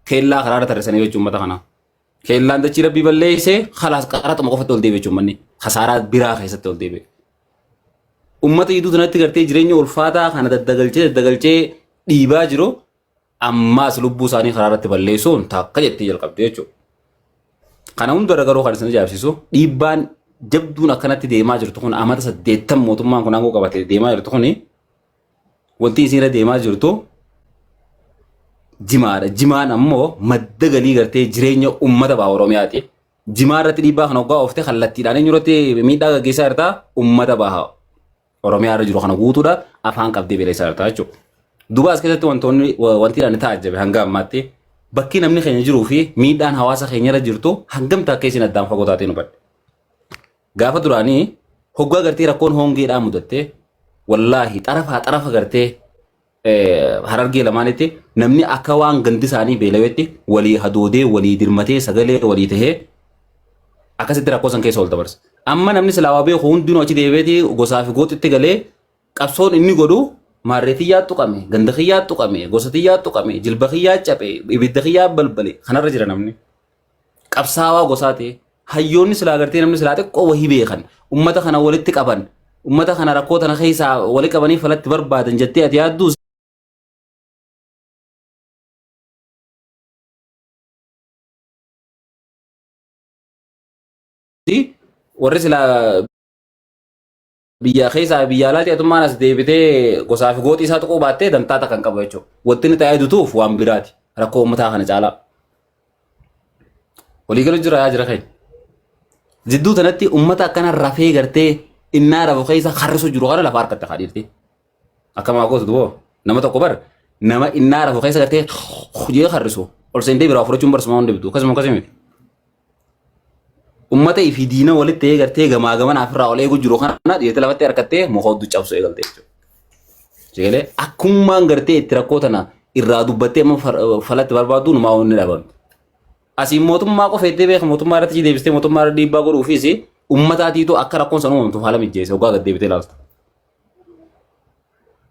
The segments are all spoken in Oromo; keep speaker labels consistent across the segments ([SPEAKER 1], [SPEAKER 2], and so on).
[SPEAKER 1] Keellaa karaarra tarreessanii jechuun uummata kanaa. Keellaan dachii rabbii balleessee kalaas qaraxuma qofatti ol deebi'e jechuun manni kasaaraa biraa keessatti ol deebi'e. Uummata iduu kanatti gartee jireenya ulfaataa kana daddagalchee daddagalchee dhiibaa jiru ammaas lubbuu isaanii karaarratti balleessuun takka jettee jalqabde jechuudha. Kana hundarra garuu kan isin ajaa'ibsiisu dhiibbaan jabduun akkanatti deemaa jirtu kun amata saddeettan mootummaan kun aangoo qabatee deemaa jirtu kun Wanti isin irra deemaa jirtu jimaadha. Jimaan ammoo madda galii gartee jireenya uummata baha Oromiyaati. Jimaa irratti dhiibbaa kana hoggaa oofte kallattiidhaan eenyu irratti miidhaa gaggeessaa jirta uummata baha Oromiyaa irra jiru kana guutuudha afaan qabdee beeleessaa jirta jechuudha. Duuba as keessatti wantoonni wa- wanti ani taajjabe hanga ammaatti bakki namni keenya jiruu fi miidhaan hawaasa keenya irra jirtu hangam takkee isin addaan fagoo taatee nu badde. Gaafa duraanii hoggaa gartee rakkoon hongeedhaa mudattee wallaahi xarafaa xarafa gartee eh, harargee lamaanitti namni akka waan gandi isaanii beelawetti walii hadoodee walii dirmatee sagalee walii tahee akkasitti rakkoo san keessa ol dabarsa. Amma namni silaawaa beeku hundinuu achi deebi'eeti gosaa fi gooxitti galee qabsoon inni godhu maarree tiyyaa tuqame, ganda kiyyaa tuqame, gosa tiyyaa tuqame, jilba kiyyaa cabe, ibidda kiyyaa balbale kanarra jira namni. qabsaawaa gosaa ta'e hayyoonni silaa gartee namni silaa xiqqoo wahii beekan ummata kana walitti qaban ummata kana rakkoo tana keessaa wali qabanii falatti barbaadan jettee ati yaadduu warri silaa biyya keessaa biyya alaa ceetummaan as deebitee gosaa fi gooxii isaa tuquu baattee dantaa takka hin qabu jechuudha. Wanti inni ta'ee dutuuf waan biraati. Rakkoo uummataa kana caalaa. Waliigala jira yaa jira keenya. Jidduu tanatti uummata akkana rafee gartee innaa rafu keessa harrisu jiru kana lafa harkatti haa dhiirti. Akkamaa gootu duboo nama tokko bar nama innaa rafu keessa gartee hojii harrisu ol seentee biraa fudhachuun barsumaa hundi bitu akkasuma akkasii miti. ummata fi diina walitti ta'ee gartee gamaa gamanaa ofirraa ol eeguu jiru kana dhiirti lafatti harkattee muka hedduu cabsuu eegalte jechuudha. Jeelee akkumaan gartee itti rakkoo tana irraa dubbattee amma far- falatti barbaaddu numaa wanni dhabame. Asiin mootummaa qofa itti beeku mootummaa irratti deebistee mootummaa irra dhiibbaa godhuufis ummataatiitu akka rakkoon san uumamtuuf haala mijjeesse hoggaa gad deebitee ilaaltu.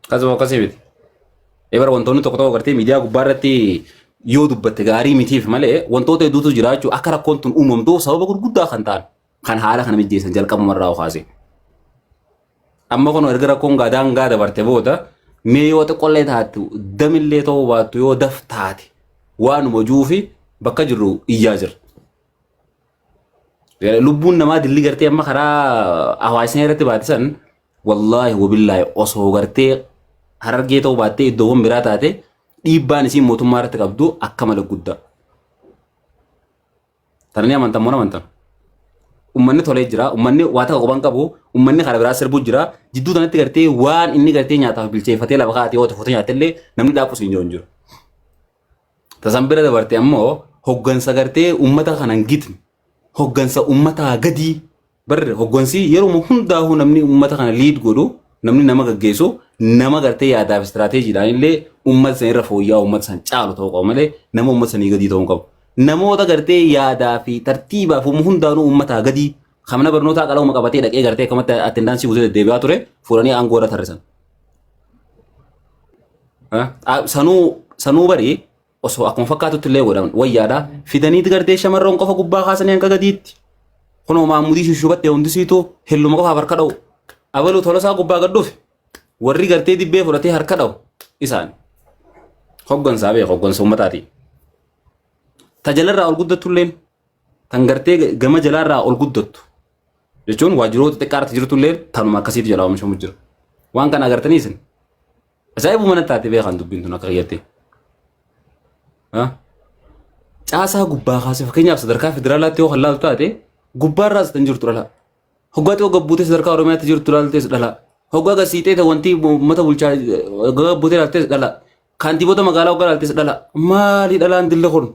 [SPEAKER 1] Akkasuma akkasii miti. Ebar wantoonni tokko tokko gartee miidiyaa gubbaa irratti yoo dubbatte gaarii mitiif malee wantoota hedduutu jiraachuu akka rakkoon tun uumamtuuf sababa gurguddaa kan ta'an kan haala kana mijjeessan jalqabuma irraa kaasee. Amma kun erga rakkoon gaadaan gaa dabarte booda mee yoo xiqqollee taatu damillee ta'uu baattu yoo daf taate waanuma juu fi bakka jirru iyyaa jirra. Lubbuun namaa dilli gartee amma karaa hawaasni irratti baatisan wallaahi wabillaahi osoo gartee harargee ta'uu baattee iddoowwan biraa taate dhiibbaan isiin mootummaa irratti qabdu akka malee guddaa. Tana ni amantan moo amantan? Uummanni tolee jira, uummanni waa takka qophaan qabu, uummanni karaa biraa sirbuu jira. Jidduu kanatti gartee waan inni gartee nyaataaf bilcheeffatee lafa kaa'atee yoo ta'e footoo nyaatee illee namni dhaabus hin jiru. Tasan bira dabarte ammoo hoggansa gartee uummata kanan gitne hoggansa uummataa gadii barre hoggansi yeruma hundaa'uu namni uummata kana liid godhu namni nama gaggeessu nama gartee yaadaaf istiraateejiidhaan illee uummata san irra fooyya'aa uummata san caalu ta'uu qaba malee nama uummata sanii gadii ta'uu hin qabu. Namoota gartee yaadaa fi tartiibaaf humna hundaanuu uummataa gadii Kan mana barnootaa qalama qabatee dhaqee gartee akkamatti attendaansii guutee deddeebi'aa ture fuudhanii aangoo irra tarrisan. Ah, ah, Sanuu sanuu barii osoo akkuma fakkaatutti illee godhaman wayyaadha. Fidaniiti gartee shamarran qofa gubbaa kaasanii hanga gadiitti. Kunoo maammudii shushubatte hundisiitu hilluma qofaaf harka dha'u. Abaluu tolosaa gubbaa gad dhufe. Warri gartee dibbee fudhatee harka dha'u isaani. Hoggansaa beeku hoggansa uummataati. Tajaajila irraa ol guddattu illeen tan gartee gama jalaa irraa ol guddattu jechuun waajjiroota xixiqqaa irratti jirtu illee tanuma akkasiitu jalaa oomishamu jira. Waan kana agartanii isin ajaa'ibuma natti taate beekan dubbiin tun akka kiyyattee. Caasaa gubbaa kaasee fakkeenyaaf sadarkaa federaalaatti yoo kan laaltu taate gubbaarraas kan jirtu dhala. Hoggaa xiqqoo gabbuutee sadarkaa Oromiyaatti jirtu laaltees dhala. Hoggaa gasiitee ta'e wanti uummata bulchaa gabbuutee laaltees dhala. Kantiibota magaalaa hoggaa laaltees dhala. Maali dhalaan dille kun?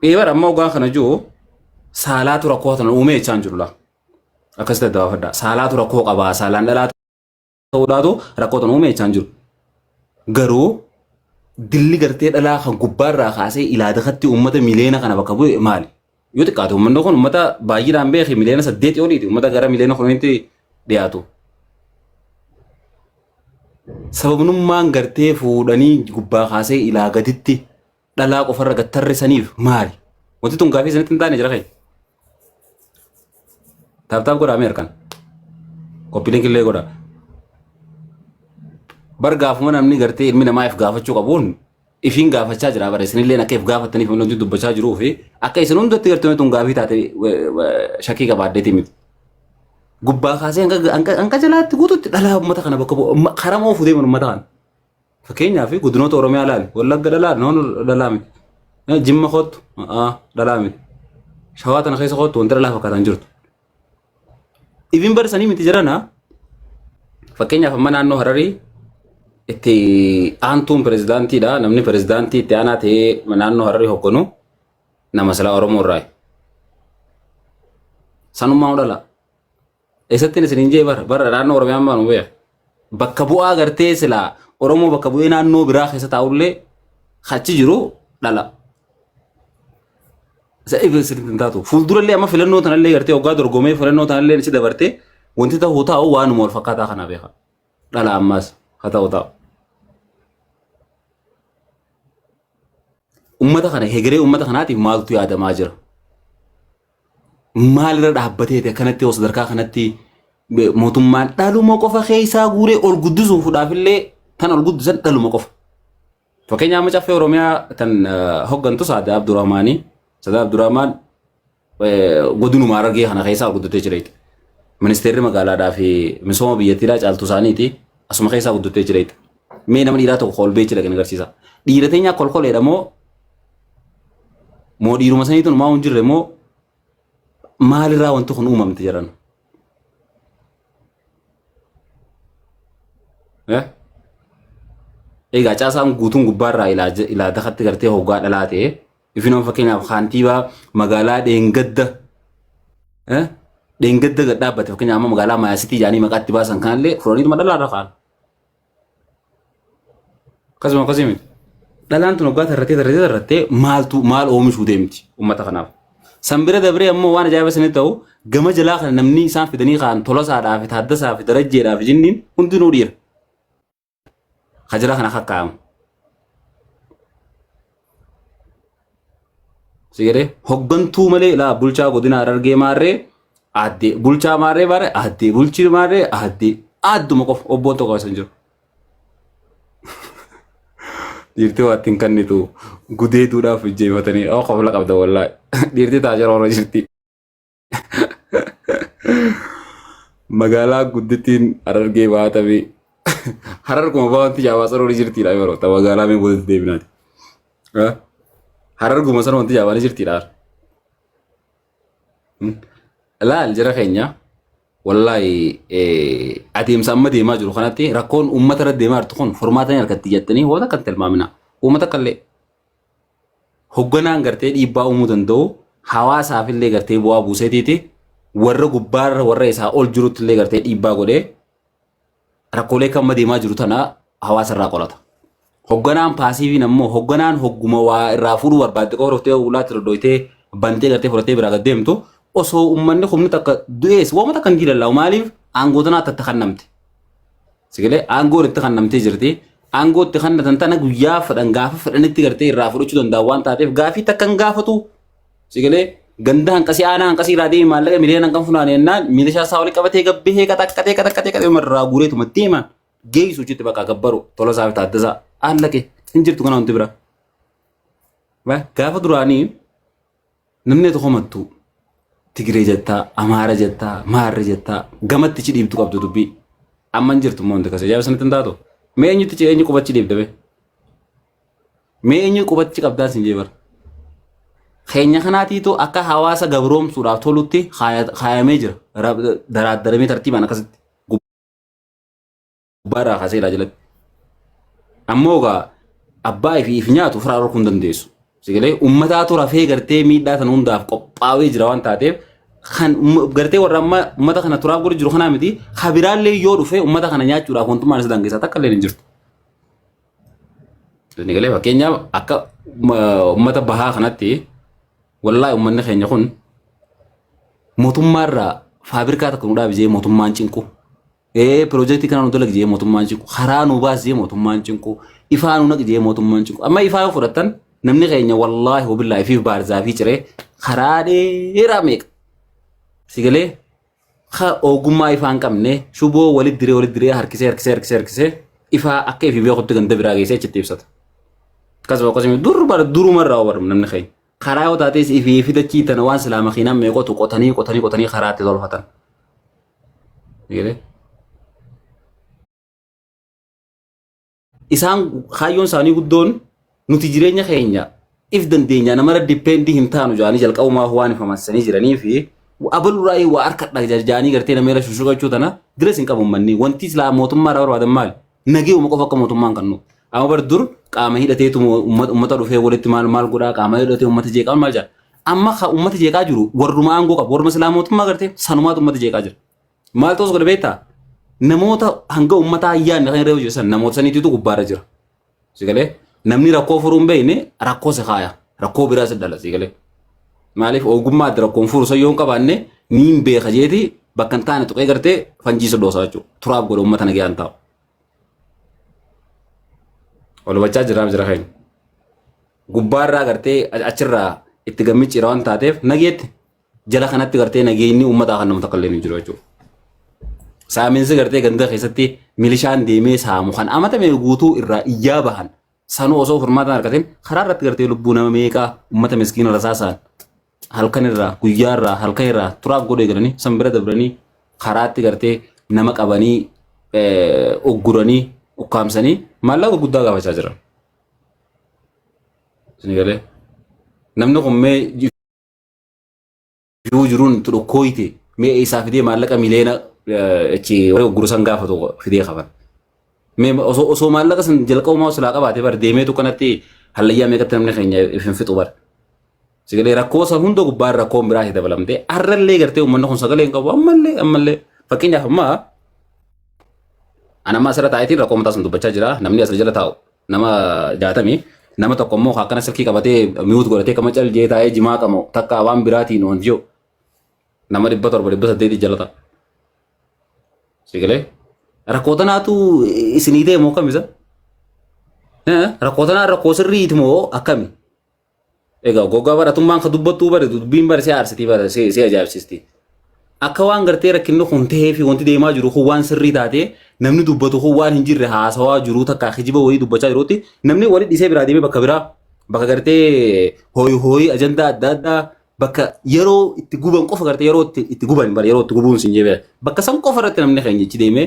[SPEAKER 1] Ee bara amma ogaa kana jiru saalaatu rakkoo kana uumee jechaan jiru laa. Akkas ta'e dabaafadha. Saalaatu rakkoo qabaa saalaan dhalaa ta'uudhaatu rakkoo kana uumee jechaan jiru. Garuu dilli gartee dhalaa kan gubbaarraa kaasee ilaadakatti uummata miliyoona kana bakka bu'e maali? Yoo xiqqaate uummanni kun uummata baay'inaan beeki miliyoona saddeetii oliiti uummata gara miliyoona kudhaniitti dhiyaatu. Sababnummaan gartee fuudhanii gubbaa kaasee ilaa gaditti dhalaa qofarra gad tarreessaniif maali? Wanti tun gaafii isinitti hin taane jira kee? Taaptaap godhaa mee harkaan. Koppiiliin killee godhaa. Bar gaafuma namni gartee ilmi namaa if gaafachuu qabuun ifiin gaafachaa jira bara isinilleen akka if gaafattaniif inni hojii dubbachaa jiruu fi akka isin hundatti gartee tun gaafii taate shakkii qabaaddeeti miti. Gubbaa kaasee hanga- hanga hanga jalaatti guututti dhalaa uummata kana bakka bu'u umma- karaa moo fuudhee uummata kana. Fakkeenyaaf godinoota Oromiyaa ilaali wallagga dhalaa noon dhalaa miti. Eh, Jimma kottu ah, dhalaa miti. Shawaa tana keessa kottu wanti dhalaa fakkaatan jirtu. Ibin bara sanii miti jirana fakkeenyaaf amma naannoo Hararii itti aantuun pirezidaantiidha namni pirezidaantii itti aanaa ta'ee naannoo Hararii hogganu nama silaa Oromoo irraa sanummaa dhala. Eessattiin isin hin jee bara bara naannoo Oromiyaa ammaa nu beeku. bakka bu'aa gartee silaa Oromoo bakka bu'ee naannoo biraa keessa taa'ullee achi jiru dhala. Isa eegan sirriitti hin taatu. Fuuldurallee amma filannoo tanallee gartee hoggaa dorgomee filannoo tanallee si dabartee wanti ta'u taa'u waanuma wal fakkaataa kana beeka. Dhala ammaas haa ta'u taa'u. Uummata kana hegeree uummata kanaatiif maaltu yaadamaa jira? maalirra dhaabbateeti akkanatti yoo sadarkaa kanatti be- mootummaan dhaluma qofa keessaa guuree ol guddisuufudhaaf illee tan ol guddisan dhaluma qofa. Fakkeenyaaf amma caffee Oromiyaa tan eh, hoggantu Saada Abdurrahmaanii Saada Abdurrahmaan eh, godinuma Harargee kana keessaa ol guddatee jira jechuudha. Ministeerri magaalaadhaa fi misooma biyyattiidhaa caaltu isaaniiti asuma keessaa guddatee jira jechuudha. Mee nama dhiiraa tokko kolbee jira kan agarsiisa. Dhiira teenyaa kolkoleedha moo moo dhiiruma saniitu numaa hin jirre moo maalirraa wanti kun uumamte jedhan. Eh? Egaa caasaan guutuun gubbaarraa ilaa je- ilaa dakatti gartee hoggaa dhalaa ta'e ifinoon fakkeenyaaf kaantiibaa magaalaa dheengadda eh? dheengadda gad dhaabbate fakkeenyaaf amma magaalaa maayasitii jedhanii maqaatti baasan kanallee fudhaniituma dhalaarra kaan. Akkasuma akkasii miti. Dhalaan tun waggaa tarrattee tarrattee tarrattee maaltu maal oomishuu deemti uummata kanaaf. San bira dabree ammoo waan ajaa'iba sanii ta'u gama jalaa kana namni isaan fidanii kaan tolasaadhaa fi taaddasaa fi darajjeedhaa fi jinniin hundinuu dhiira. Ka jalaa kana kakkaa'amu. Sigade hoggantuu malee laa bulchaa godina Harargee maarree aaddee bulchaa maarree maarree aaddee bulchii maarree aaddee aadduma qofa obboon tokko as hin jiru. Dhiirtii waattiin kannitu gudeeduudhaaf ijjeefatanii qofa qabda wallaahi. Dhiirtii taajara hora jirti. Magaalaa guddittiin Harargee bahaa tabii. Harar kuma bahanti jaabaa saroon jirtiidha yeroo ta'u magaalaa mee boodatti deebinaati. Harar kuma saroon wanti jaabaan jirtiidha. Laal jira keenya wallaahi adeemsa amma deemaa jiru kanatti rakkoon uummata irra deemaa jirtu kun furmaata ni argatti jettanii waan akka hin tilmaamina. Uummata kallee hogganaan gartee dhiibbaa uumuu danda'u hawaasaaf illee gartee bu'aa buuseetiiti warra gubbaarra warra isaa ol jirutti illee gartee dhiibbaa godhee rakkoolee kan amma deemaa jiru tana hawaasa irraa qolata. Hogganaan paasiiviin ammoo hogganaan hogguma waa irraa fuudhuu barbaadde qofa dhuftee ulaatti dodooytee bantee gartee fudhattee biraa gad deemtu osoo uummanni humni takka du'ees waamata kan diilalaawu maaliif aangoo tanaa tatta kan namte. Sigalee aangoon itti kennamtee jirti. Aangoo itti kennatan tana guyyaa fedhan gaafa fedhanitti gartee irraa fudhachuu danda'an waan taateef gaafii takka hin gaafatu. Sigalee ganda hanqasii aanaa hanqasii irraa deemi maallaqa miliyoona hanqan funaane jennaan milishaa isaa walitti qabatee gabbihee qaxaqqatee qaxaqqatee qaxee irraa guureetuma deema. Geessu hojjetti bakka gabbaru tola isaa fi taaddasaa haallaqe hin jirtu kana wanti biraa. Gaafa duraanii Namni ati komattu Tigiree jettaa, Amaara jettaa, Maarre jettaa, gamatti ichi dhiibdu qabdu dubbii. Amma hin jirtu immoo wanti akkasii. Ajaa'iba sanatti hin taatu. Mee eenyutti ichi eenyu qubachi dhiibda mee? Mee eenyu qubachi qabdaan sin jee bara. Keenya kanaatiitu akka hawaasa gabroomsuudhaaf tolutti kaaya- kaayamee jira. Ra- Daraaddaramee tartiibaan akkasitti. gubbaarraa kaasee ilaa jalatti. Ammoo egaa abbaa ifi if nyaatu ofirraa dhorkuu hin dandeessu. Sigalee uummataatu rafee gartee miidhaa sana hundaaf qophaa'ee jira waan taateef kan umma- gartee warra amma uummata kana turaaf godhu jiru kanaa miti kabiraallee yoo dhufe uummata kana nyaachuudhaaf wantummaan isa dangeessaa takka illee hin jirtu. Sigalee fakkeenyaaf akka ma- uummata bahaa kanatti wallaahi uummanni keenya kun mootummaarraa faabirikaa takka nu dhaabisee mootummaan cinqu Ee piroojeektii kana nu dalagi jee mootummaan cinqu karaa nu baas jee mootummaan cinqu ifaa nu naqi jee mootummaan cinqu amma ifaa yoo fudhattan namni keenya wallaahi wabillaahi fi baarzaa fi ciree karaa dheeraa meeqa si galee ka ogummaa ifaa hin qabne shuboo walitti diree walitti diree harkisee harkisee harkisee harkisee ifaa akka ifi beekutti ganda biraa geessee achitti ibsata. Akkasuma akkasuma dur bara durumarraa barbaadu namni keenya. karaa yoo taatees ifii fi dachii tana waan silaa makiinaan meeqotu qotanii qotanii qotanii karaa itti tolfatan. Eegalee. Isaan kaayyoon isaanii guddoon nuti jireenya keenya if dandeenya namara dippeendi hin taanu jaanii jalqabumaa waan ifamansanii jiranii fi abalurraa waa harkadha jaanii gartee nama irra shushugachuu tana diras hin qabu manni wanti silaa mootummaa irraa barbaadan maali Nageewuma qofa akka mootummaan kan nu. Amma bar dur qaama hidhateetu mo- umma- ummata dhufee walitti maal maal godhaa qaama hidhatee ummata jeeqaa maal jedha. Amma ka ummata jeeqaa jiru warruma aangoo qabu warruma silaa mootummaa gartee sanumaatu ummata jeeqaa jira. Maal ta'us godhe beektaa? Namoota hanga ummataa hin yaadne kan irra hojjetan namoota saniitiitu gubbaarra jira. Sigalee namni rakkoo furuu hin beekne rakkoo si kaaya. Rakkoo biraa si dhala sigalee. Maaliif ogummaa adda rakkoon furu san yoo hin qabaanne ni hin beeka jeeti bakka hin taane tuqee gartee fanjii si dhoosa jechuudha. Turaaf godha uummata nagaa hin taa'u. Wal hubachaa jiraam jira keenya. Gubbaarraa gartee achirraa itti gammicciira waan taateef nageetti jala kanatti gartee nageenyi uummataa kan nama takka illee hin jiru jechuudha. Saaminsi gartee ganda keessatti milishaan deemee saamu kan amatame guutuu irraa iyyaa bahan sanuu osoo furmaataan argatin karaa irratti gartee lubbuu nama meeqaa uummata miskiina rasaasaan halkan irraa guyyaa irraa halkan irraa turaaf godhee galanii san bira dabranii karaatti gartee nama qabanii eh, ugguranii ukkaamsanii maallaqa guddaa gaafachaa jiran. Isin galee namni kun mee jiruu jiruun itti dhukkooyte mee eessaa fidee maallaqa miliyoona achi warri gurguru san gaafatu fidee qaban. Mee osoo osoo maallaqa san jalqabumaa osoo laa qabaate bar deemeetu kanatti hallayyaa meeqatti namni keenya ifin fixu bar. Sagalee rakkoo san hunda gubbaan rakkoon biraa itti dabalamtee har'allee gartee uummanni kun sagalee hin qabu ammallee ammallee fakkeenyaaf ammaa ana ammaa asirra taa'eetiin rakkoo mataa san dubbachaa jira namni asirra jala taa'u nama jaatami nama tokko immoo kan akkana silkii qabatee mi'uut godhatee kama cal jee taa'ee jimaa qamoo takka waan biraatiin oon jiru nama dhibba torba dhibba saddeeti jalata sigilee rakkoo tanaatu isinii ta'e moo kamisa rakkoo tanaa rakkoo sirriiti moo akkami Egaa gogaa baratummaan ka dubbattuu bari dubbiin bari si aarsitii bara si si ajaa'ibsisti. Akka waan gartee rakkinni kun ta'ee fi wanti deemaa jiru kun waan sirrii taatee namni dubbatu kun waan hin jirre haasawaa jiru takka kijiba wayii dubbachaa jirutti namni wali dhisee biraa deemee bakka biraa bakka gartee hooyi hooyi ajandaa adda addaa bakka yeroo itti guban qofa gartee yeroo itti itti guban bara yeroo itti gubuun sin jebee bakka san qofa irratti namni keenya ichi deemee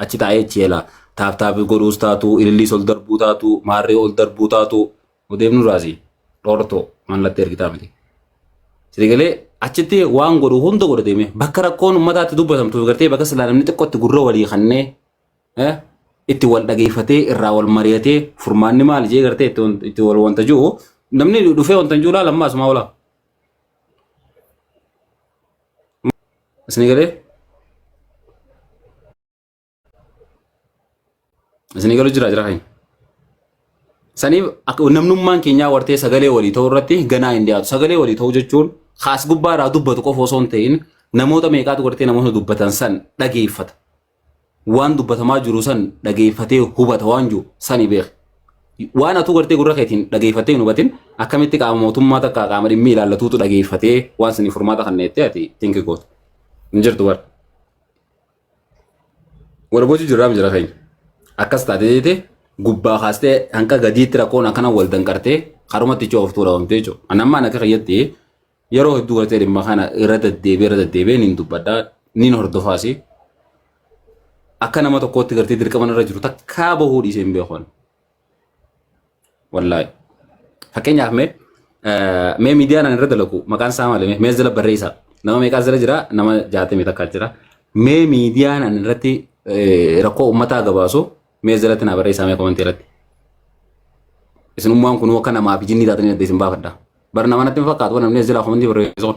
[SPEAKER 1] achi taa'ee achi eela taaptaapi godhuus taatu ililliis ol darbuu taatu maarree ol darbuu taatu Odeef Nuraasi dhortoo mallattee ergitaa miti. Sirrii galee achitti waan godhu hunda godha deemee bakka rakkoon uummataatti dubbatamtuuf gartee bakka silaa namni xiqqootti gurra walii kannee eh, itti wal dhageeffatee irraa wal mari'atee furmaanni maali jee gartee itti wan- itti wal wanta jiru namni dhufee wanta hin jiru laala ammaa asumaa olaa. Isin galee Isinii galu jira jira kani. Saniif akka namnummaan keenyaa wartee sagalee walii ta'uu irratti ganaa hin dhiyaatu. Sagalee walii ta'uu jechuun kaas gubbaa irraa dubbatu qofa osoo hin ta'in namoota meeqaatu wartee namoota dubbatan san dhageeffata. Waan dubbatamaa jiru san dhageeffatee hubata waan jiru sani beeka. Waan atuu gartee gurra keetiin dhageeffattee hin hubatin akkamitti qaama mootummaa takka qaama dhimmi ilaallatuutu dhageeffatee waan sanii furmaata kan neettee ati tinki gootu. Hin jirtu bara. Wal gochuu jirraa jira keenya. Akkas taatee jeetee gubbaa kaastee hanga gadiitti rakkoon akkana wal danqartee karumatti cooftuu dhabamtee jechuudha. Ani ammaan akka keeyyatti yeroo hedduu gartee dhimma kana irra deddeebi'ee irra deddeebi'ee niin dubbadhaa niin hordofaasi. Akka nama tokkootti gartee dirqama irra jiru takkaa bahuu dhiisee hin beeku. Wallaahi. Fakkeenyaaf mee eh, mee miidiyaa nan irra dalagu maqaan isaa maali mee mees jala barreessaa nama meeqaa jala jira nama jaatamii takkaa jira mee miidiyaa nan irratti eh, rakkoo uummataa gabaasu mees jalatti naa barreessaa mee komantii irratti isinummaan kunuu akka namaa fi jinnii taatanii adda isin baafadha. Bara nama natti hin fakkaatu waan namni as jalaa komantii barreessuun.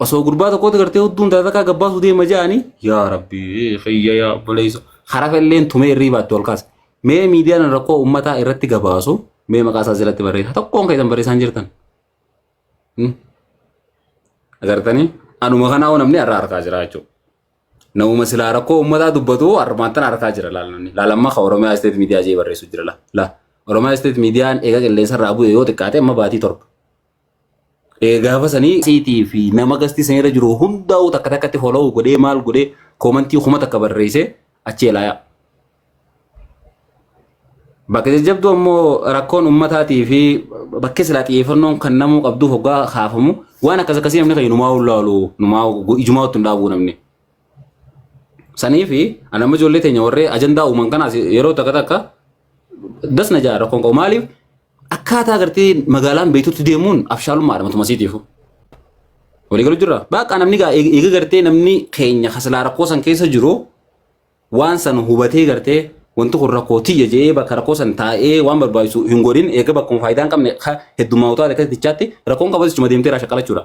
[SPEAKER 1] Osoo gurbaa tokkotti gartee hudduun taatakaa gabbaasuu deema ja'anii yaa rabbii kiyya yaa obboleessa harafa illeen tumee irrii baatti ol kaasa. Mee miidiyaan rakkoo uummataa irratti gabaasu mee maqaa isaa jalatti barreessa tokkoon keessan barreessaan jirtan. Hmm. Agartanii anuma kanaa hoo namni har'a argaa jira jechuudha. Namuma silaa rakkoo uummataa dubbatu harmaattan argaa jira laalanni. Laalamma kan Oromiyaa Isteet Miidiyaa jee barreessu jira la. La. Oromiyaa Isteet Miidiyaan eega qilleensa irraa bu'e yoo xiqqaate amma baatii torba. Eh, gaafa sanii siitii fi nama gastii sanirra jiru hundaa'uu takka takkatti follow godhee maal godhee koomantii kuma takka barreessee achi elaayaa. Bakka jajjabduu ammoo rakkoon ummataatii fi bakka silaa xiyyeeffannoon kan namuu qabduuf hoggaa kaafamu waan akkas akkasii namni kan numaa ulaalu numaa ijumaa ottu hin dhaabuu namni. Sanii fi anamma ijoollee teenya warree ajandaa uuman kanaas yeroo takka takka Das na ja'a rakkoon qabu maaliif akkaataa agartee magaalaan beektutti deemuun abshaalummaadha matuma isiitiifu. Walii galu jirra. Baaqaa namni gaa eeg- eega gartee namni keenya kasilaa rakkoo san keessa jiru waan san hubatee gartee wanti kun rakkoo tiyya jedhee bakka rakkoo san taa'ee waan barbaachisu hin godhin eega bakkuma faayidaa hin qabne ka heddummaa utaa akka tichaatti rakkoon qabatu ichuma deemtee irraa shaqqalachuudha.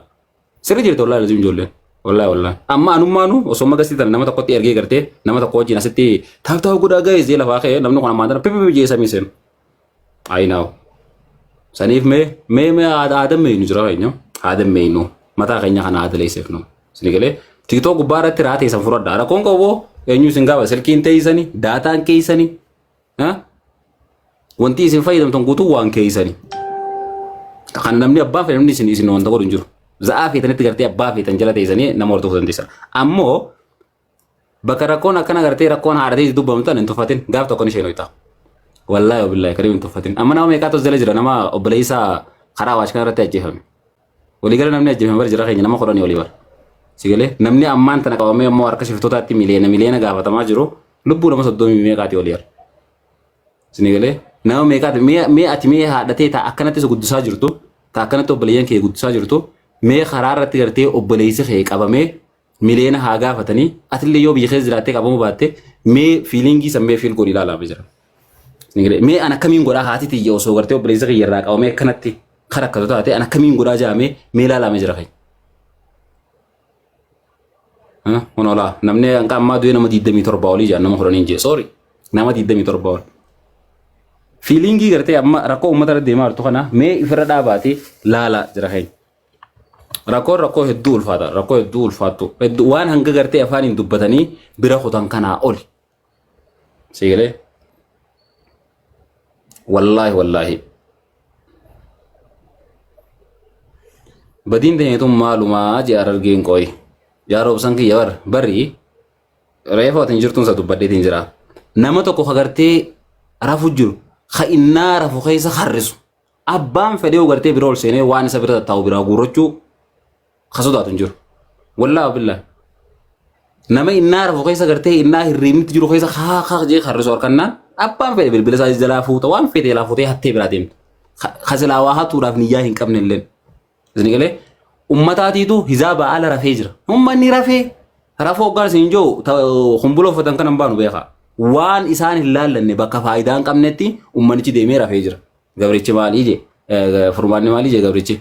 [SPEAKER 1] Sirri jirtu wallahi lazim ijoolleen. Wallahi wallahi. Amma anummaanu osoo magasii tana nama tokkotti ergee gartee nama tokko wajjin asitti taap taap godhaa ga'e zee lafaa ka'e namni kun ammaan tana pipipi jee samii seenu. Ayi naaw. Saniif mee mee mee aadan meeynu jira keenya. Aadan meeynu mataa keenya kana aada leesseef nu. Sini galee tiktoo gubbaa irratti raatee san furadha. Rakkoon qabu eenyu isin gaafata silkiin teeysani daataan keeysani Ha? Wanti isin fayyadamtan guutuu waan keessani. Kan namni abbaa fedhe namni isin isin wanta godhu hin jiru. Za'aa feetanitti gartee abbaa feetan jala teessanii nama hordofuu dandeessa. Ammoo bakka rakkoon akkana gartee rakkoon haadhatee dubbamtan hin tuffatin gaaf tokko ni isheen ho'itaa. Wallaahi wabillahi kariim hin tuffatin. Amma nama meeqaatu as jala jira nama obboleessaa karaa waash kanarratti ajjeefame. Waliigala namni ajjeefame bara jara keenya nama kudhanii olii bara. Sigalee namni ammaan tana qabamee immoo harka shiftootaatti miliyoona miliyoona gaafatamaa jiru lubbuu nama soddomii meeqaati olii bara. Sinigalee nama meeqaati mee mee ati mee haadhatee taa akkanatti isa guddisaa jirtu taa akkanatti obboleeyyan kee guddisaa jirtu mee karaa irratti gartee obboleessi kee qabamee miliyoona haa gaafatanii atillee yoo biyya keessa jiraattee qabamuu baatte mee fiilingii san mee fiil godhi ilaalaa mee jira. Nigiree, Mee an akkamiin godhaa haati tiyya osoo gartee obboleessa kiyya irraa qabamee akkanatti kan rakkatu taate an akkamiin godhaa jaamee mee ilaalaa mee jira keenya. Huh? Kun olaa namni hanqa ammaa du'ee nama 27 olii jaan nama 10 jee sorry nama 27 ol. Fiilingii gartee amma rakkoo uummata irra deemaa jirtu kana mee ifirra dhaabaatee laalaa jira keenya. Rakkoon rakkoo hedduu ulfaata rakkoo hedduu ulfaattu hedduu waan hanga gartee afaaniin dubbatanii bira kutan kanaa oli. Siigalee wallaahi wallaahi badiin teenyatuun maalumaa jee arargeen qooyi. Yaa roobsan kiyya bar barii reefa watiin jirtuun isa dubbadheetiin jira. Nama tokko ka gartee rafu jiru ka innaa rafu keessa harrisu. Abbaan fedhee yoo gartee bira ol seenee waan isa bira tattaa'u biraa guurrachuu ka sodaatu hin jiru. Wallaahi billaa. Nama innaa rafu keessa gartee innaa hirriibnitti jiru keessa haa haa jee harrisu harkannaan abbaan fedhe bilbila isaa jalaa fuuta waan fedhe jalaa fuutee hattee biraa deemta. Ka ka silaa waa hatuudhaaf niyyaa hin qabne illee. Isin galee ummataatiitu hizaaba ala rafee jira. Ummanni rafee rafuu hoggaan isin jiru kumbuloo uffatan kan hin baanu beekaa. Waan isaan hin laallanne bakka faayidaa hin qabnetti ummanichi deemee rafee jira. Gabrichi maalii je furmaanni maalii je gabrichi.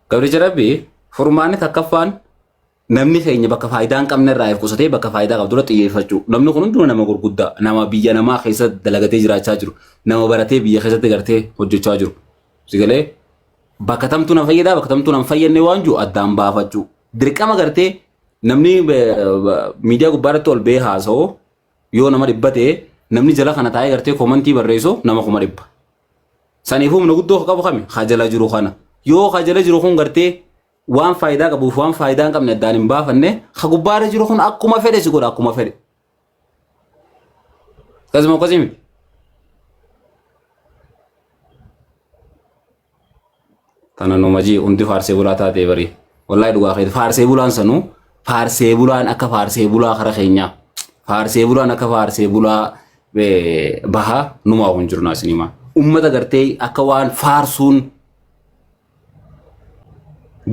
[SPEAKER 1] Gabrichi rabbi furmaanni takkaffaan namni keenya bakka faayidaa hin qabne irraa qusatee bakka faayidaa qabdu irratti xiyyeeffachuu. Namni kun hunduu nama gurguddaa nama biyya namaa keessa dalagatee jiraachaa jiru nama baratee biyya keessatti gartee hojjechaa jiru. Sigalee bakka tamtuu nan fayyadaa bakka tamtuu nan fayyadne waan jiru addaan baafachuu. Dirqama gartee namni miidiyaa gubbaa irratti ol ba'ee haasa'u Yoo nama dhibba ta'e namni jala kana taa'ee gartee komantii barreessu nama kuma dhibba. Saniifuu humna guddoo ka qabu kami ka jala jiru kana. Yoo ka jala jiru kun gartee waan faayidaa qabuuf waan faayidaa hin qabne addaan hin baafanne ka gubbaarra jiru kun akkuma fedhe si godha akkuma fedhe. Akkasuma akkasii miti. Tana numa jee hundi faarsee bulaa taatee barii. Wallahi dhugaa keeti faarsee bulaan sanuu faarsee bulaan akka faarsee bulaa kara keenyaa. Faarsee bulaan akka faarsee bulaa eh, bahaa numaa kun jirnaa sinimaa. Ummata gartee akka waan faarsuun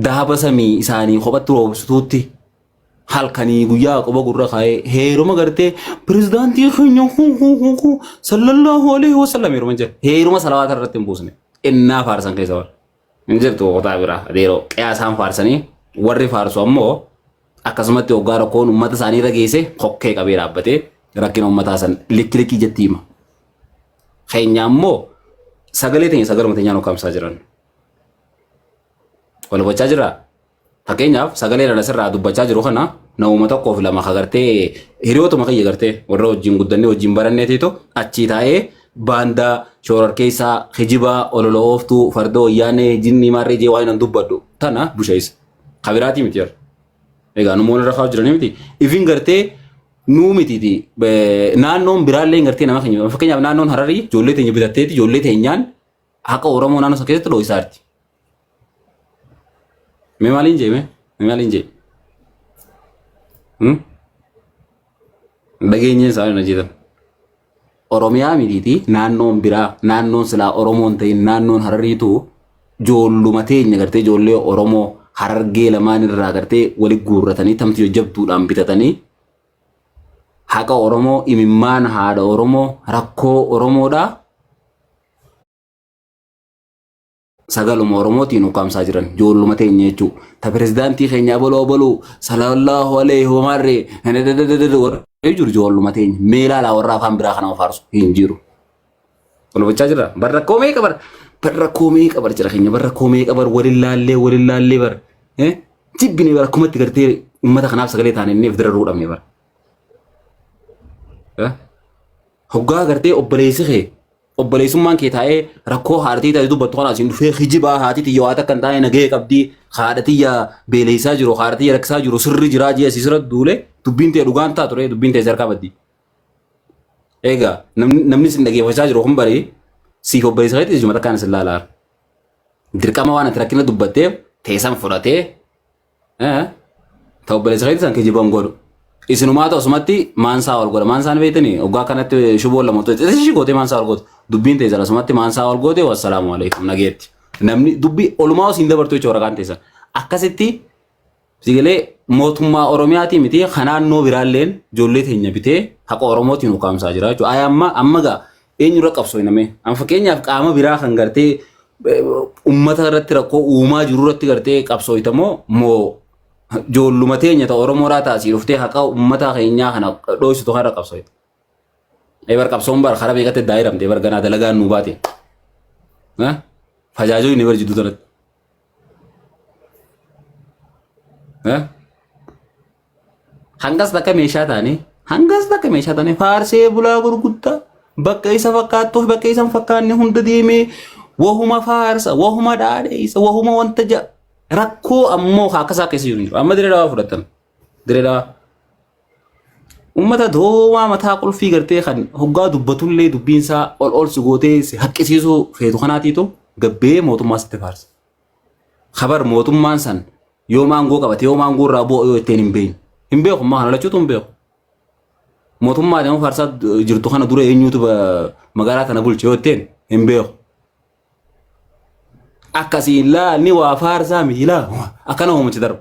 [SPEAKER 1] dahaba samii isaanii kophatti roobsutuutti halkanii guyyaa qoba gurra kaa'ee heeruma gartee pirezidaantii keenya hu hu hu hu sallallahu alaihi wasallam heeruma jira heeruma salawaata irratti hin buusne innaa faarsan keessa warra hin jirtu qotaa biraa adeeroo qiyaasaan faarsanii warri faarsu ammoo akkasumatti hoggaa rakkoon uummata isaanii irra geesse kokkee qabee dhaabbatee rakkina uummataa san likki likkii jetti hima keenya ammoo sagalee teenya sagaluma teenyaan hokkamsaa jiran wal gochaa jiraa Fakkeenyaaf sagalee irra asirraa dubbachaa jiru kana namuma tokkoof lama ka gartee hiriyootuma kiyya gartee warra wajjin guddannee wajjin baranneetiitu achii taa'ee baandaa shoorarkeessaa kijibaa olola ooftuu farda wayyaanee jinnii maarree jee waan hin dubbadhu tana busheessa. Ka biraatii miti yeroo. Egaa numoon irra kaa'u jiranii miti. Ifin gartee nuu mitiiti. Naannoon biraallee gartee nama keenya. Fakkeenyaaf naannoon Hararii ijoollee teenya bitatteeti ijoollee teenyaan haqa Oromoo naannoo sana keessatti dhooysaa jirti. Mee maaliin jee mee? Mee maaliin jee? Hmm? Dhageenyeen isaanii na jeetan. Oromiyaa mitiiti naannoon biraa naannoon silaa Oromoon ta'in naannoon Harariitu joolluma teenya gartee ijoollee Oromoo Harargee lamaan irraa gartee wali guurratanii tamti jajjabduudhaan bitatanii haqa Oromoo imimmaan haadha Oromoo rakkoo Oromoodhaa sagaluma oromootiin ukkaamsaa jiran joolluma teenya jechuu ta pirezidaantii keenya abaloo abaluu sallallahu alaihi homaarre warri jiru joolluma teenya meelaalaa warra afaan biraa kana ofaarsu hin jiru. Kun hubachaa jira bar rakkoo meeqa bar bar rakkoo meeqa bar jira keenya bar rakkoo meeqa bar waliin laallee waliin laallee bar jibbine bar akkumatti gartee uummata kanaaf sagalee taane inni ifdiraruu dhabne bar. Hoggaa gartee obboleessi kee obboleessummaan kee taa'ee rakkoo haadhatii taate dubbattu kana asiin dhufee hijibaa haati tiyya waa takka hin taane nagahee qabdii haadha tiyya beeleysaa jiru haadha tiyya rakkisaa jiru sirri jiraa jee asii sirra duule dubbiin tee dhugaan taatu ree dubbiin tee sarkaa baddi. Egaa namni namni sin dhageeffachaa jiru kun barii siif obboleessa keetti jimata kan isin laalaa. Dirqama waan ati rakkina dubbatteef teessan fudhatee Eh? Ta obboleessa keetti san kijiban godhu. Isinumaata osumatti maansaa ol godha. Maansaan beektanii oggaa kanatti shuboon lama tolcha. Isa ishii gootee maansaa ol goote. Dubbiin teessan asumatti maansaa ol goote wassalaamu alaikum nageetti. Namni dubbi olumaa osiin dabartuu jechuudha waraqaan teessan. Akkasitti sigilee mootummaa Oromiyaatii miti kan naannoo biraalleen ijoollee teenya bitee haqa Oromootiin ukaamsaa jira jechuudha. Ayi amma amma gaa eenyurra qabsoofna mee? An fakkeenyaaf qaama biraa kan gartee eh, ummata irratti rakkoo uumaa jiru irratti gartee qabsoofta moo moo joolluma teenya ta Oromoodhaa taasii dhuftee haqa ummataa keenyaa kana dhooysitu kanarra qabsoofta. Ee bar qabsoon bar karaa beekatte daayiramte bar ganaa dalagaan nuu baate. Eh? Fajaajoo inni bar jidduu tanatti. Eh? Hangas takka meeshaa taane hangas takka meeshaa taane faarsee bulaa gurguddaa bakka isa fakkaattuuf bakka isa hin fakkaanne hunda deemee wahuma faarsa wahuma dhaadheessa wahuma wanta ja'a rakkoo ammoo akka isaa keessa jiru hin jiru. Amma diree dawaa fudhatan diree dawaa. Uummata doomaa mataa qulfii gartee kan hoggaa dubbatullee dubbiinsaa ol ol si gootee si haqqisiisuu feetu kanaatiitu gabbee mootummaa sitti faarsa. Kabar mootummaan san yoom aangoo qabate yoom aangoo irraa bu'a yoo ittiin hin beekne. Hin beeku ammaa kana lachuutu hin beeku. Mootummaa adeemu faarsaa jirtu kana dura eenyuutu ba- magaalaa tana bulche yoo ittiin hin beeku. Akkasii hin laalni waa faarsaa miti laa akkana hoomatti darba.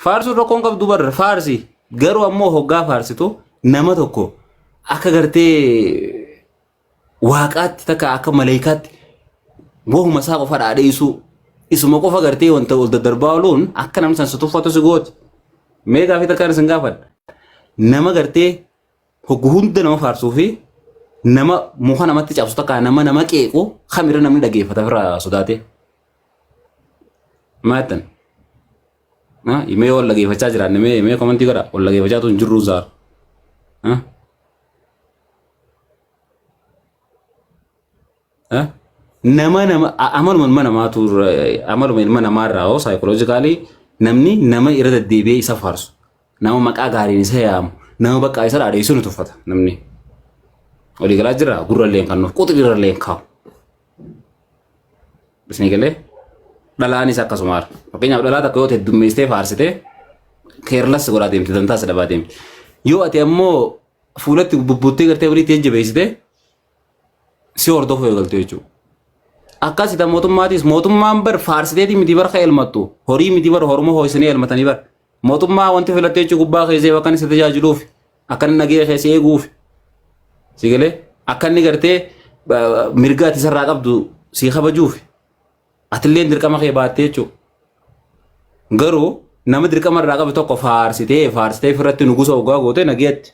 [SPEAKER 1] Faarsuun rakkoon qabdu barra faarsi garuu ammoo hoggaa faarsitu nama tokko akka gartee waaqaatti takka akka maleeykaatti wahuma isaa qofa dhaadheessuu isuma qofa gartee wanta ol daddarbaa ooluun akka namni san si tuffatu si gooti. Mee gaafii takkaan isin gaafadha. Nama gartee hoggu hunda nama faarsuu fi nama muka namatti cabsu takka nama nama qeequ kamirra namni dhageeffata ofirraa sodaatee. Maattan. Ah, Mee wal dhageeffachaa jiraanne mee mee komantii godha wal dhageeffachaa tun jirruu zaar. Ah? Ah? Nama nama a- amaluma ilma namaatu irra- amaluma ilma namaa irraa hoo saayikoloojikaalii namni nama irra deddeebi'ee isa faarsu nama maqaa gaariin isa yaamu nama baqqaa isa dhaadheessu ni tuffata namni. Walii galaa jira gurralleen kan nuuf quxirralleen kaa'u. Isin galee dhalaanis akkasuma haala. Fakkeenyaaf dhalaa takka yoo heddummeessitee faarsitee keerlas godhaa deemti dantaas dhabaa deemti. Yoo ati ammoo fuulatti bubbuttee gartee walitti jajjabeessitee si hordofuu eegaltu jechuudha. Akkasita mootummaatis mootummaan bar faarsiteetii miti bar ka elmattu horii miti bar hormoo ho'isanii elmatanii bar Mootummaa wanti filatte jechuun gubbaa keessee bakka inni si tajaajiluuf akka inni nagee keessee eeguuf si galee akka inni gartee ba- mirga ati isarraa qabdu si kabajuuf atillee dirqama kee baattee jechuudha. Garuu nama dirqama irraa qabu tokko faarsitee faarsitee ofirratti nugusa ogaa gootee nageetti.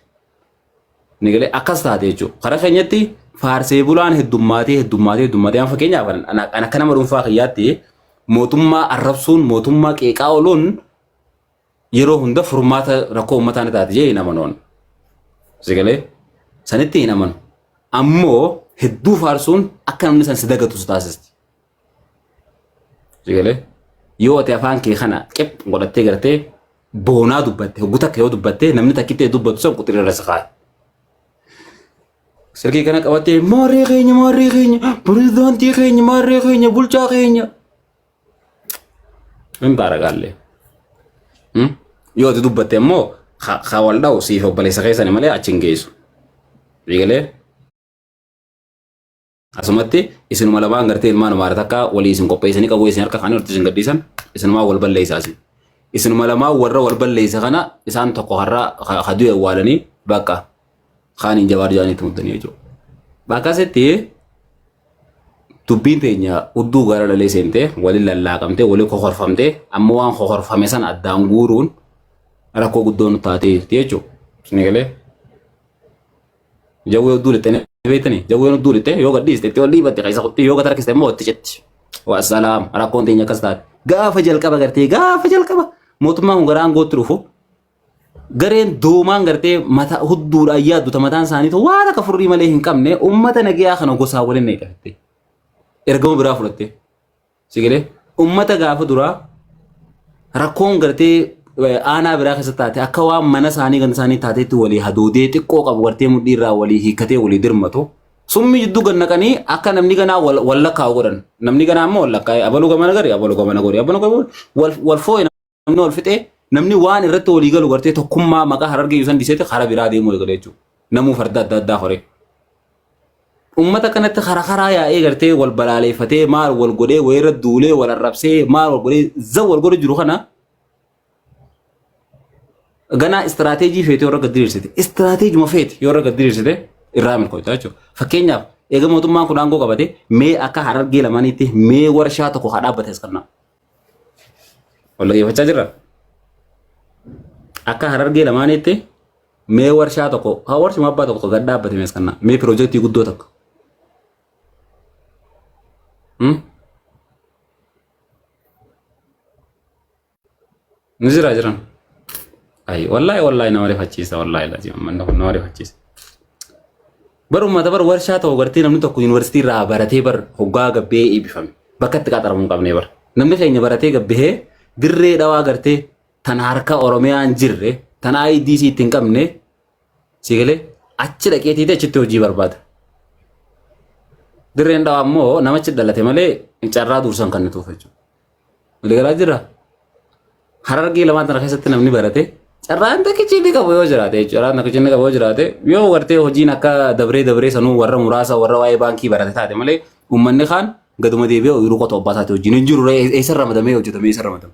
[SPEAKER 1] Ni galee akkas taate jechuudha. Karaa keenyatti faarsee bulaan heddummaatee heddummaatee heddummaatee amma fakkeenyaaf an- an- an akka nama dhuunfaa kiyyaatti mootummaa arrabsuun mootummaa qeeqaa ooluun yeroo hunda furmaata rakkoo uummataa ni taate jee hin amanoon. Si galee sanitti hin amanu. Ammoo hedduu faarsuun akka namni san si dagatu si taasisti. Sigalee yoo ati afaan kee kana qip godhattee gartee boonaa dubbatte hogguu takka yoo dubbatte namni takkittee dubbatu san quxirri irra saqaa. Silkii kana qabattee maarree keenya maarree keenya pirezidaantii keenya maarree keenya bulchaa keenya. Hin baaragaallee. Yoo ati dubbatte immoo ka wal dha'u siif obboleessa keessani malee achi hin geessu. Sigalee. Asumatti isinuma lamaan gartee ilmaan amaara takka walii isin qopheessanii qabu isin harka kaanii horti isin gadhiisan isinumaa wal balleessaa isin. Isinuma lamaan warra wal balleessa kana isaan tokko har'a haduu awwaalanii bakka kaaniin jawaar jaanii tumtanii jechuudha. Bakka asitti dubbiin teenya udduu gara lalee seentee waliin lallaaqamtee waliin kokorfamtee amma waan kokorfame sana addaan guuruun rakkoo guddoo nu taatee jirti jechuudha. Isin eegalee. Jawwee hudduu lixxee ni beektanii? Jawween hudduu lixxee yoo gad dhiiste itti ol dhiibatte keessa kutti yoo gad harkiste immoo itti citti. Wassalaam rakkoon teenya akkas taate. Gaafa jalqaba gartee gaafa jalqaba mootummaan kun gara aangootti dhufu gareen doomaan gartee mata hudduudhaan yaadduta mataan isaaniitu waan akka furrii malee hin qabne uummata nagayaa kana gosaan waliin eegalte. Ergama biraa fudhatte. Si galee uummata gaafa duraa rakkoon gartee eh, aanaa biraa keessa taate akka waan mana isaanii ganda isaanii taateetti walii hadoodee xiqqoo qabu gartee mudhii irraa walii hiikkatee walii dirmatu. Summi jidduu gad naqanii akka namni ganaa wal wal lakkaa'u godhan. Namni ganaa immoo wal lakkaa'e abaluu gamana gari abaluu gamana gori abaluu gamana gori wal wal foo'e namni wal fixee namni waan irratti walii galu gartee tokkummaa maqaa harargee yuusan dhiiseeti karaa biraa deemuu eegale jechuudha. Namuu farda adda addaa horee. Uummata kanatti karaa karaa yaa'ee gartee wal balaaleeffatee maal wal godhee wayirra duulee wal arrabsee maal wal godhee za wal godhee jiru kana ganaa istiraateejii feete yoo irra diriirsite istiraateejuma feete yoo irra diriirsite irraa milkoofta jechuudha. Fakkeenyaaf eega mootummaan kun aangoo qabate mee akka harargee lamaaniitti mee warshaa tokko haa dhaabbate as kannaa. Wal dhaggeeffachaa jirra. Akka harargee lamaaniitti mee warshaa tokko haa warshuma abbaa tokko gad dhaabbate mees kannaa mee piroojeektii guddoo tokko. Hmm? Nu jira jiran. Ayi wallahi wallahi nama rifachiisa wallahi lazim manna kun nama rifachiisa. Bar ummata bar warshaa ta'u gartee namni tokko yuunivarsiitii irraa baratee bar hoggaa gabbee eebbifame bakka itti qaxaramuu hin qabnee bar. Namni keenya baratee gabbihee dirree dhawaa gartee tan harka Oromiyaa hin jirre tan IDC itti hin qabne si galee achi dhaqee tiitee achitti hojii barbaada. Dirreen dhawaa immoo namachi dhalate malee carraa duursan kan nutuuf jechuudha. Waliigalaa jira. Harargee lamaan tana keessatti namni barate carraan takkichi inni qabu yoo jiraate jechuudha. Carraan takkichi inni qabu yoo jiraate yoo gartee hojiin akka dabree dabree sanuu warra muraasa warra waa'ee baankii barate taate malee uummanni kaan gaduma deebi'ee ooyiruu qotuu abbaa isaati hojiin hin jiru ree eessa ramadamee hojjetamee eessa ramadame.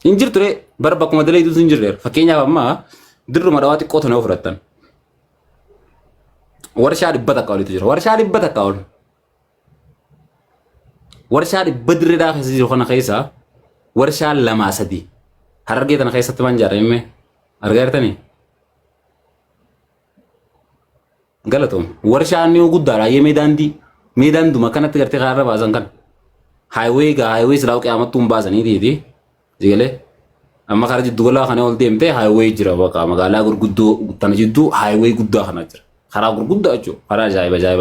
[SPEAKER 1] Hin jirtu ree bara bakkuma daleeduutu hin jirre fakkeenyaaf amma dirruma dhawaa xiqqoo tana yoo fudhattan warshaa dhibba takka olitu jira warshaa dhibba takka ol Warshaa dhibba dirree dhaa keessa jiru kana keessa warshaa lamaa sadi harargee tana keessatti waan jaarame mee argaa jirtanii? Galatoom. Warshaa inni guddaadha yee mee daandii mee daanduma akkanatti gartee kaarra baasan kan haayiwee egaa haayiwee silaa qiyaamattuu hin baasanii tiiti jigalee amma karaa jiddu galaa kana ol deemtee haayiwee jira baqa magaalaa gurguddoo tana jidduu haayiwee guddaa kana jira karaa gurguddaa jechuudha karaa ajaa'iba ajaa'iba.